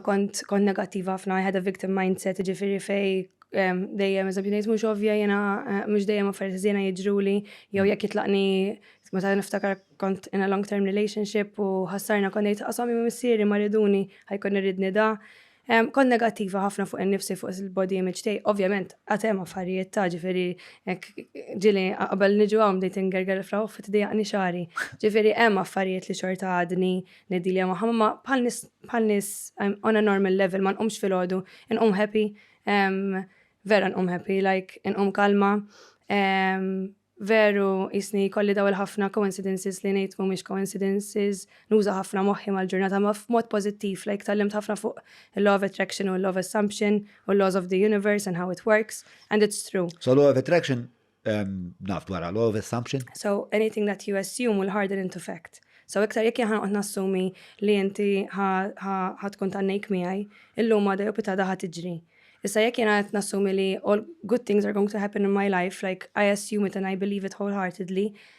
kont kont negattiva ħafna, I had a victim mindset, ġifiri fej ehm, dejjem eżempju ngħid mhux ovvja jiena eh, mhux dejjem affarijiet żiena jiġruli jew mm. jekk jitlaqni meta niftakar kont in a long term relationship u ħassarna kont ngħid qasam ma missieri ma riduni ħajkun irridni da. Ehm, kont negattiva ħafna fuq in-nifsi fuq il-body image tiegħi. Ovvjament għatem affarijiet ta' ġifieri ġili qabel niġu hawn bdejt ingerger fraw fit dejaqni xari. Ġifieri hemm affarijiet li xorta għadni Nedilja magħha, Mamma, bħal nies bħal nies I'm on a normal level, ma nqumx filgħodu, inqum happy, vera nqum happy, like inqum kalma, veru jisni kolli daw il-ħafna coincidences li ngħid mhumiex coincidences, nuża ħafna moħħi mal-ġurnata ma f'mod pożittiv, like tallimt ħafna fuq il-law of attraction u l-law of assumption u l-laws of the universe and how it works and it's true. So law of attraction Naf dwar law of assumption. So anything that you assume will harden into fact. So iktar jekk jaħan qed nassumi li inti ħa tkun tannejk miegħi, illum għada jew pitada ħa tiġri. Issa jekk jiena qed nassumi li all good things are going to happen in my life, like I assume it and I believe it wholeheartedly,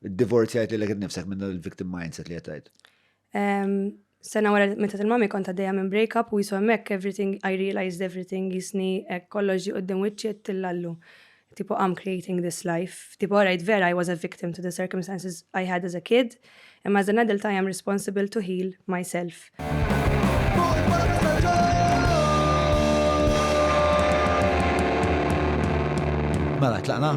Divorzjajt li l-għed nifsek minn il-victim mindset li għetajt. Sena wara meta il-mami kont għaddejja minn break-up u jisu hemmhekk everything, I realized everything, jisni hekk kollox ġi qudiem wiċċi tillallu. Tipo I'm creating this life. Tipo alright vera I was a victim to the circumstances I had as a kid, imma as an adult I am responsible to heal myself. Mela, tlaqna?